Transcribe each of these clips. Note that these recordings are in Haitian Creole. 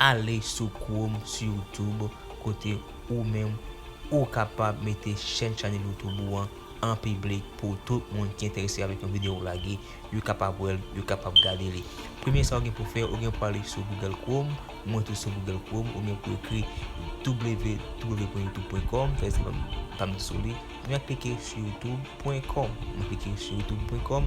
Ale sou chrome sou youtube kote ou menm ou kapab mete chèn chanèl youtube ou an an piblik pou tout moun ki enterese avèk yon video ou lage. yo kapab wè l, yo kapab gade li. Premye sa ou gen pou w fè, ou gen pou w ale sou Google Chrome, mwen tou sou Google Chrome, ou gen pou w ekri www.youtube.com, fè zèl pa m sou li, mwen ap klike sou youtube.com, mwen klike sou youtube.com,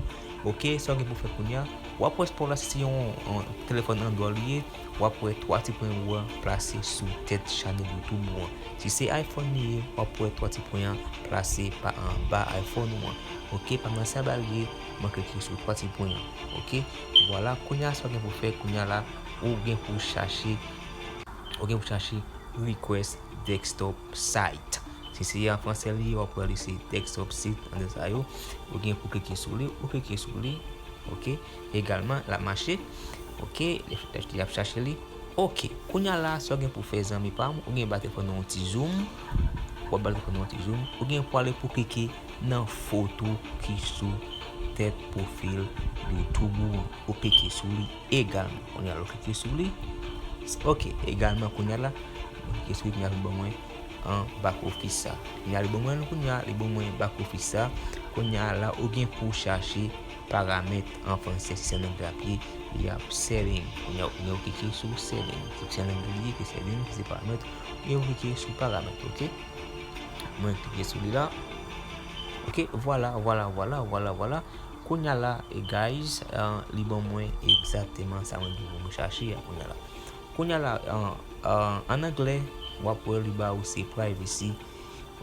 ok, sa ou gen pou w fè kounya, w ap wè spò w la si se yon telefòn android li ye. wap wè 3 ti pwen wou an plase sou tèt chanèl youtube wou an si se iphone li ye wap wè 3 ti pwen an plase pa anba iphone wou an ok pa nan sa bal ye mwen klike sou 3 ti pwen an ok vwala kounya sa ou gen pou fè kounya la ou gen pou chache ou gen pou chache request desktop site si se an fransè li ye wap wè li se desktop site nan de sa yo ou gen pou klike sou li ou klike sou li ok. Egalman lap mache ok yap chache li ok kounya la sa w gen pou fè zanmi pa m ou gen bate fò nan yon ti zoom wap bate fò nan yon ti zoom ou gen pou ale pou klike nan foto ki sou tèt pwofil youtube ou an ou klike sou li egalman kounya la ou klike sou li ok egalman kounya la mwen klike sou li kounya li ban mwen an bak ofis sa kounya li ban mwen l kounya li ban mwen bak ofis sa kounya la ou gen pou chache Paramèt an franse seksyon lang la ap ye li ap setting kounya ou gen ou klike sou setting seksyon lang li ye ki setting ki se paramèt ou gen ou klike sou paramèt ok mwen klike sou li la ok vwala vwala vwala vwala vwala kounya la e guys li ban mwen egzakteman sa mwen gen pou mwen chache a kounya la kounya la an anglè wap wè li ba ou se privacy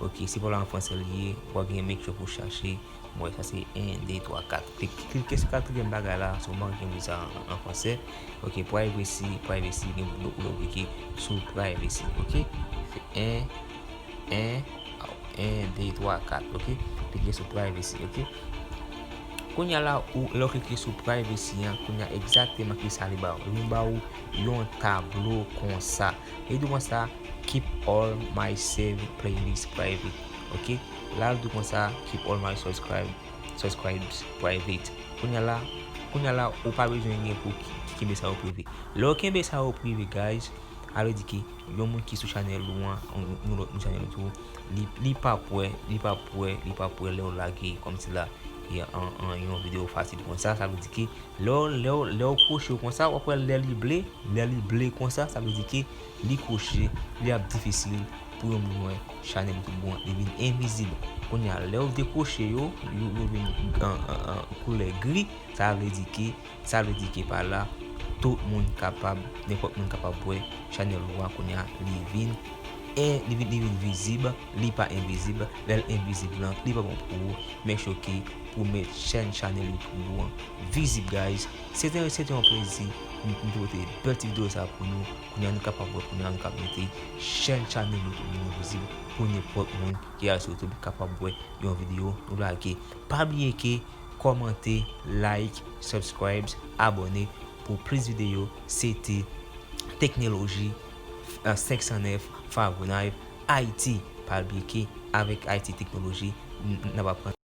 ok se pa an franse li ye wap gen make sure pou chache. Mwen sa se 1 2 3 4 klike sou katriyèm bagay la si w manke m li sa an fransè ok privacy privacy gen yon koulè w klike sou privacy ok se 1 1 1 2 3 4 ok klike sou privacy ok kounya la ou lè w klike sou privacy an kounya egzakteman ki sa li ba w li ba w yon tablo konsa li di w konsa keep all my save playlist private ok. Lal tou konsa keep all my subscribe subscribes private kounya la kounya la ou pa bezwen gen pou kenbe sa yo prive lèw kenbe sa yo prive guys a vle di ke yon moun ki sou chanèl ou an yon lòt moun chanèl ou tou li li pap wè li pap wè li pap wè lèw lage kòm si la an yon video fasil konsa sa vle di ke lèw lèw lèw kwoche konsa wap wè lè li ble lè li ble konsa sa vle di ke Li kwoche, li ap difisil pou yon moun wè chanèl ki bon an, li vin envizib. Kounye a, lè ou dekwoche yo, yo vin koulè gri, sa vle di ke, sa vle di ke pa la, tout moun kapab, nenpòt moun kapab wè chanèl ou a kounye a, li vin en, li vin, li vin vizib, li pa envizib, lè l envizib lan, li pa bon pou ou, men chou ke pou mèt chèn, chanèl youtube ou an vizib guys. Se te se te yon plezi nou te pote bèl ti video sa pou nou kounye a nou kapab wè kounye a nou kap mete chèn channel nou tou nou vizib pou nenpòt moun ki al sou youtube kapab wè yon video nou lage pa bliye ke kòmante like subscribes abòne pou plis video se te teknoloji 509 favonayv haiti pa bliye ke avèk haiti teknoloji nap aprann.